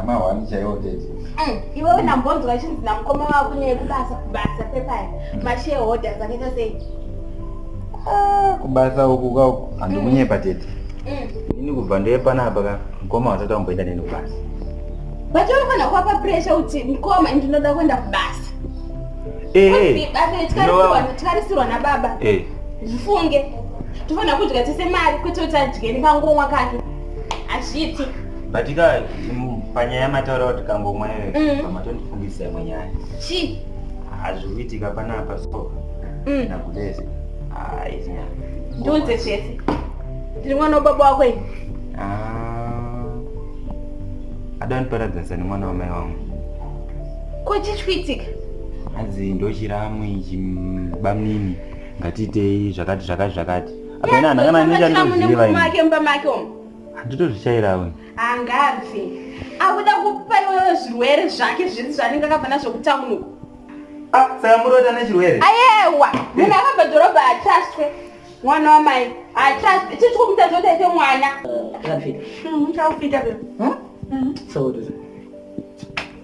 amahwani chaiwo tete mm, iwewe ndambonzwa achinzi namukoma wako nekubasa kubasa pepaya mashareholders akaita sei ah, kubasa uku kauku handikunyepa tete mm. ini kubva ndeye panapa ka mukoma wasati wamboenda neni kubasa but unofanira kuwapa pressure kuti mukoma ndinoda kuenda kubasa eh, tikarisirwa nababa eh. zvifunge tofanira kudya tese mari kwete kuti adye nekangomwa kake hazviiti but ka panyaya mataura kuti kangomwa iwe mm. pamatondifungisisa imwe nyaya chii hazviri kuitika panapa so mm. nakudese haizi nyaya ndiunze chese ndiri mwana wababa wako ini ah. adandiparadzanisa nemwana wamai wangu ko chii chikuitika hanzi ndochiramu ichi bamnini ngatiitei zvakati zvakati zvakati apena anakana nechaniziva make mumba make omo handitozvichairawo angabve akuda kupa iwewe zvirwere zvake zviri zvanenge akabva nazvo kutauni uko ah, saka murota nechirwere ayewa munhu akabva dhorobha achaswe mwana wamai achaswe ichi chikomuta zvotaite mwana hmm, hmm, hmm?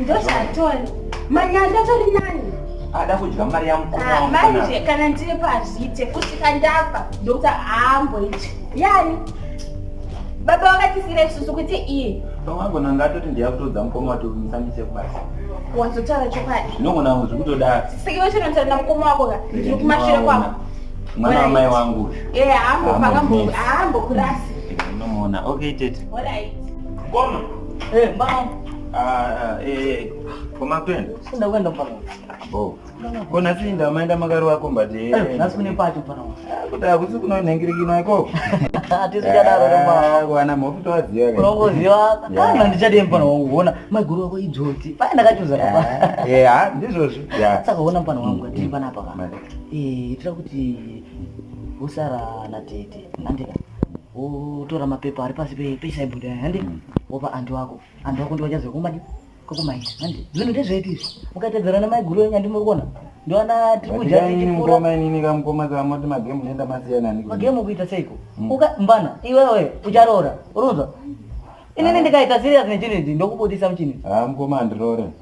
ndozvatoni manyanda tori nani ada kudya mari yamukmanje ah, kana ndiri pazvite kusvika ndafa ndokuti haamboiti yani baba vakatisira isusu kuti iye pamwagona ngatoti ndiyakutodza mukoma watomisandise kubasa wazotaura chokwadi zvinogona zvi kutodaro sikiwe chinotaura namukoma wako ka ndiri kumashure kwako mwana wamai wangu uyu ee haambokurasi unomuona okay tete mkoma ee mbaa konasinda maenda makari wako mbatikuti akusi kunonhengirikina ikoko wana mhofu towazivaandichadii mpana wangu kuona maiguru wako idzodzi paya ndakachuza haa ndizvozvo saka ona mpana wangu atiri panapa ka tira kuti usara natete andika wotora mapepa ari pasi pechisaibhodhi aya handi mm. wopa anti wako anti wako ndiwachaziva kumadi kokumaita handi zvinhu ndezvedu izvi mukatedzerana maiguru enyu andimuri kuona ndoana tikujainini kamukoma kamoti magemu nenda masiyana magemu kuita seiko mm. uka mbana iwewe ucharoora unonzwa inini ndikaita serious nechinhu ichi ndokubudisa muchinhu ha ah, mukoma andiroore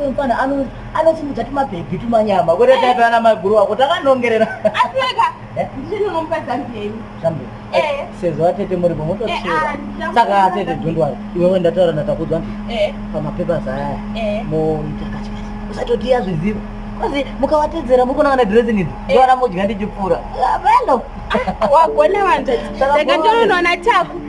Uyu mfana ano anosimudza tumabhebhi tumanyama kwete eh. taive ana maiguru wako takanongerera. Asika eh? ndini unomupa zambia imi. Zambia. Eh. eh sezvo atete muri mumotosiyera. Ah, Saka atete don't worry. Iwe wenda taura na takudzwa. Eh. Pamapepa zaya. Eh. Mo mtakati. Usatotia zvizivo. Kwazi mukawatedzera muri kunanga dressing idzi. Eh. Ndora modya ndichipfura. Velo. Ah, Wagona wanje. Ndakatonoona taku.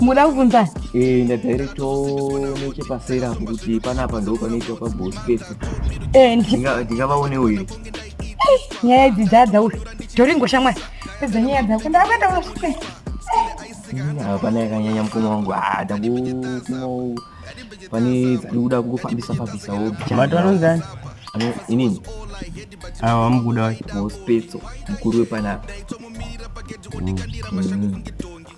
muda kubvunza eh ndadirecto nechepasera apo kuti panapa ndo panoitwa paboss pese eh ndingavaonewo here eh, nyaya idzi dzadza uyu toringo shamwari pedza nyaya dzako ndakuenda kunosvika hapana yakanyanya mukoma wangu ah, dangu pane dziri kuda kungofambisa fambisawo mati vanonzani inini awa vamukuda wacho mospetso mukuru wepanapa mm.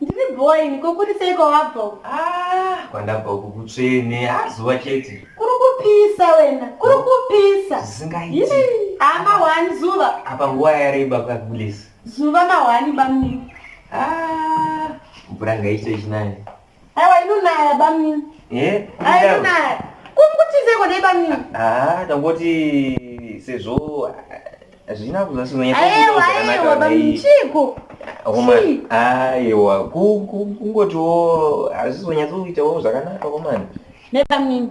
ndiri bhowa ini kokurisei kwawabva uku Ah, kwandabva uku kutsvene azuva chete kuri kupisa wena kuri kupisa zvisingaiti Yii, haa mahwani zuva apa nguva yareba kagulesi zuva mahwani bamnini Ah, mvura ngaite chinani Aiwa inonaya bamnini. Eh? Aiwa inonaya. Kumkutizeko nei bamnini? Ah, tangoti sezvo hazvina ah, kuzasinonya. Aiwa aiwa bamnini chiko. Homa. Aiwa kungotiwo hazvizonyatsoitawo zvakanaka komana. Nebamnini.